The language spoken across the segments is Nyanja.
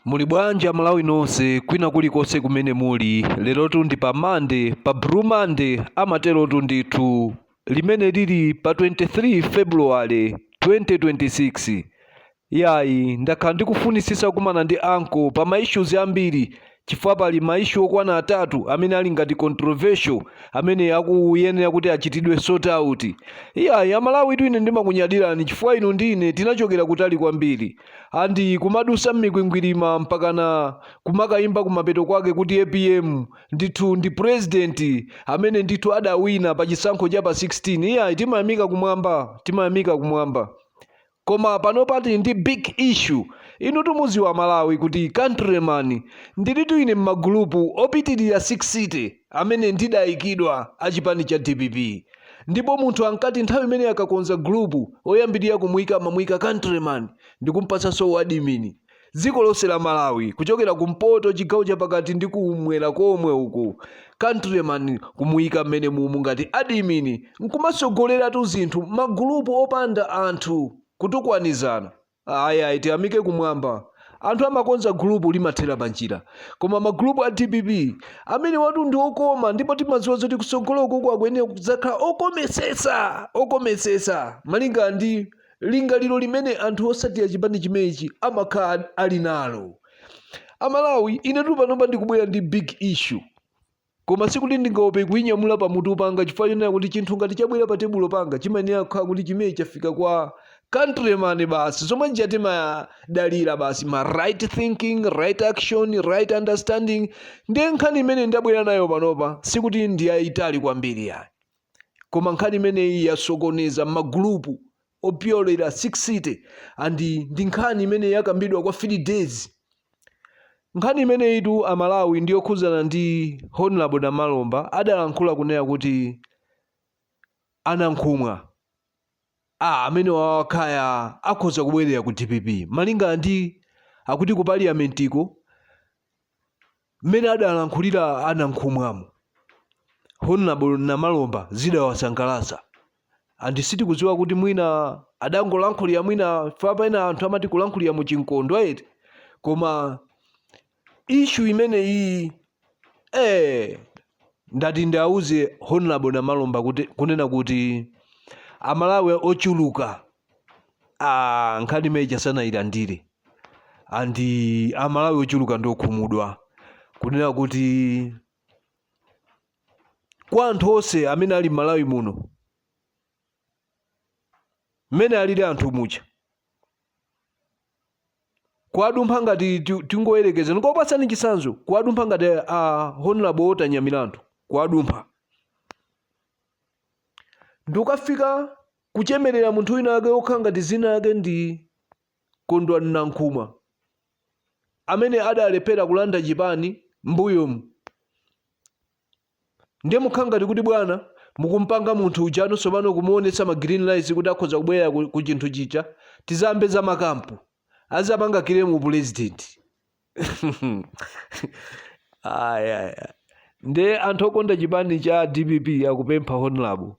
muli bwanji amalawi nonse kwina kulikonse kumene muli lerotu ndi pa mande pa blue mande amaterotu ndithu limene lili pa 23 february 2026 yayi ndakhala ndikufunisisa kumana ndi anko pa maissues ambiri chifukwa pali ma issue okwana atatu amene ali ngati controversial amene akuyenera kuti achitidwe sort out iyayi amalawitu ine ndimakunyadirani chifukwa inu ndi ine tinachokera kutali kwambiri andi kumadusa mmikwingwirima mpakana kumakayimba kumapeto kwake kuti apm ndithu ndi president amene ndithu adawina pa chisankho cha pa 16 iyayi timayamika kumwamba timayamika kumwamba Koma panopa tili ndi big issue. Inutu mudziwa amalawi kuti country man ndilitu ine mmagulupu opitilira 60 amene ndidaikidwa a chipani cha dpp. Ndipo munthu ankati nthawi imene akakonza gulupu oyambirira kumuika amamuika country man ndikumpatsanso uadimini. dziko lonse la malawi kuchokera kumpoto chigawo chapakati ndi kumwera komwe uku countryman kumuyika mmene mumu ngati adimini nkumatsogoleratu zinthu magulupu opanda anthu kutukwanizana ayi ayi tiyamike kumwamba anthu amakonza gulupu limathera panjira koma magulupu a dpp amenewatu ndi okoma ndipo timadziwa zoti kutsogolo kuku akuyenera kudzakhala okometsetsa okometsetsa malinga ndi lingaliro limene anthu osatira chipani chimenechi amakhala ali nalo amalawi inetu panopa ndikubwera ndi big issue koma sikuti ndingaope kuinyamula pa mutu panga chifukwa chonena kuti chinthu ngati chabwera pa tebulo panga chimayenera kukhala kuti chimene chafika kwa countryman basi zomwe zija timadalira basi ma right thinking right action right understanding ndiye nkhani imene ndabwera nayo panopa sikuti ndi yayitali kwambiri yayi koma nkhani imeneyi yasokoneza mmagulupu opyolera 60 and ndi nkhani imene yakambidwa kwa 3 days nkhani imeneyitu amalawi ndi yokhuzana ndi honorable namalomba adalankhula kunena kuti anankhumwa a amenewawa kaya akhoza kubwerera ku dpp malingana ndi akuti ku paliyamentiko mmene adalankhulira a nankhumwamo honorable namalomba zidawasangalatsa and sitikudziwa kuti mwina adangolankhulira mwina fa pena anthu amati kulankhulira mu chikondwa eti koma issue imeneyiyi eh, ndati ndiwauze honorable namalomba kunena kuti amalawi ochuluka ah, nkhani imene ija sanayilandire and amalawi ochuluka ndiokhumudwa kunena kuti kwa anthu onse amene ali m'malawi muno mmene alili anthu muja kuwadumpha ngati ti- tingoyerekeza ndikupatsani chitsanzo kuwadumpha ngati a honorable walter nyamilandu kuwadumpha ndi kukafika kuchemerera munthu wina wake wokhala ngati dzina lake ndi kondwani nankhumwa amene adalephera kulanda chipani mbuyomu Ndiye mukhala ngati kuti bwana mukumpanga munthu uja tsopano kumuonetsa ma green lights kuti akhoza kubwerera ku, ku chinthu chija tiziyambe za makampu azapanga claim upulezidenti Ayi, ayi, ayi. nde anthu okonda chipani cha dpp akupempha honorable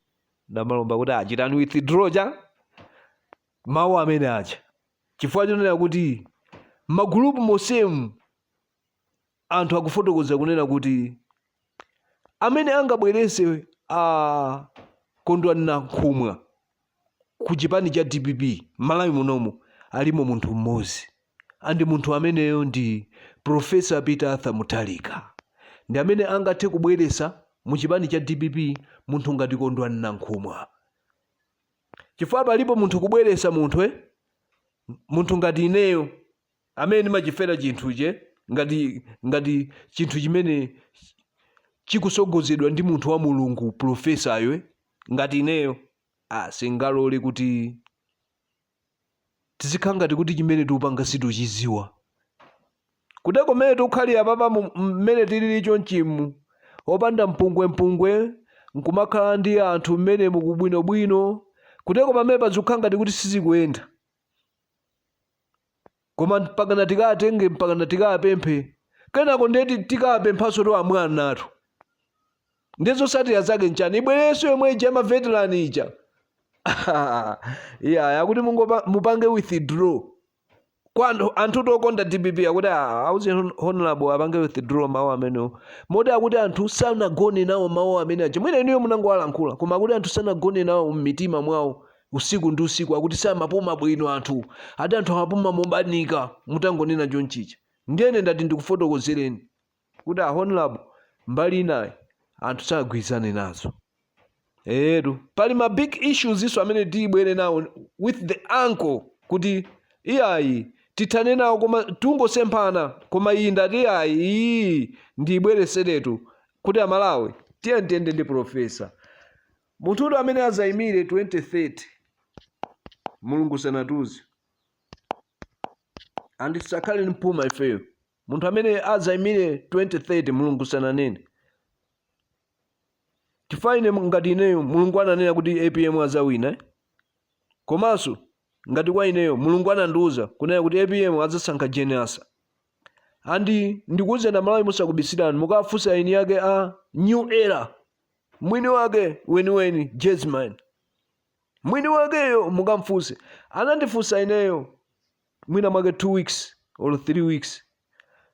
namalomba kuti achiteni withdraw mawu amene aja chifukwa chonena kuti ma group mosemu anthu akufotokoza kunena kuti amene angabwerese a kondwani nankhumwa ku chipani cha dpp m'Malawi munomu alimo munthu mmodzi and munthu ameneyo ndi profesa peter arthur mutharika ndi amene angathe kubweresa mu chipani cha dpp munthu ngati kondwani nankhumwa chifukwa palipo munthu kubweresa munthu eh? munthu ngati ineyo amene ndimachifera chinthuchi ngati ngati chinthu chimene chikusogozedwa ndi munthu wa mulungu pulofesayo eh? ngati ineyo ah, singalole kuti tizikhala ngati kuti chimene tikupanga sitikuchiziwa kuteko mmene tikukhalira apapa mu- mmene tilili chonchimu opanda mpungwempungwe nkumakhala ndi anthu mmenemu kubwinobwino kuteko pamene pazikukhala ngati kuti sizikuyenda koma mpakana tikatenge mpakana tikapemphe kenako ndekuti tikapemphenso kwa mwana wathu ndi zosatira zake nchani ibwerenso yomwe ija maveteran ija iya akuti mungopa- mupange withdraw kwa anthu- anthutu okonda dpp akuti "Ah, auze hon- honorable apange withdraw mawu amenewo moti akuti anthu sanagone nawo mawu amene aja mwina inuyo munangowalankhula koma akuti anthu sanagone nawo m'mitima mwawo usiku ndi usiku akuti samapuma bwino anthu ati anthu amapuma mobanika mutangonena chonchija ndiyene ndati ndikufotokozereni kuti a honorable mbali inayo anthu sanagwirizane nazo etu pali ma big issues nso amene tibwere nawo with the uncle kuti iyayi tithane nawo koma tikungosemphana koma iyi ndati iyayi iyi ndiyibwereseretu kuti amalawi tiyeni tiyende ndi profesa Munthuyo amene azaimire 2030 Mulungu sanatiuze and tisakhale ndi phuma ifeyo munthu amene azaimire 2030 Mulungu sananene chifukwa ine ngati ineyo Mulungu ananena kuti APM azawina eh? komanso ngati kwa ineyo Mulungu anandiuza kunena kuti APM azasankha Jane Ansah and ndikuuzeni amalawi mosakubisirani mukafunsa eni yake a new era mwini wake weniweni Jasmine mwini wakeyo mukamfunse anandifunsa ineyo mwina mwake 2 weeks or 3 weeks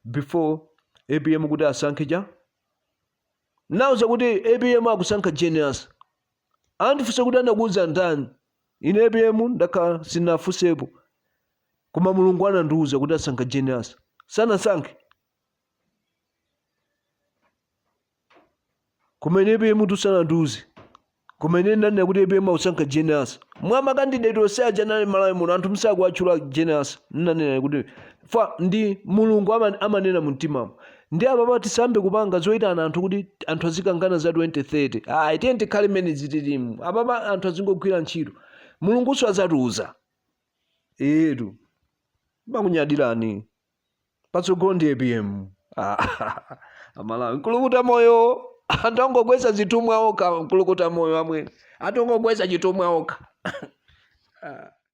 before apm kuti asankhe chani ndinamuuza kuti apm akusankha Jane Ansah anandifunsa kuti anakuuza ndani ine apm ndakhala sindinafunsepo koma mulungu anandiuza kuti asankha Jane Ansah sanasankhe koma ine APM tu sanandiuze koma ine ndanena kuti APM akusankha Jane Ansah mwa makandideti onse aja anali malawi muno anthu osakuwatchula Jane Ansah nnanena kuti chifukwa ndi mulungu ama- amanena mu mtimamo nde apapa tisayambe kupanga zoyitana anthu kuti anthu azikangana za 2030 ayi tiye tikhale mmene tililimu apapa anthu azingogwira ntchito mulungunso azatiuza etu timakunyadirani patsogolo ndi apm amalawi nkulinga uta moyo anthu akungogwetsa zithumwa okha nkulinga uta moyo amwene anthu akungogwetsa chithumwa okha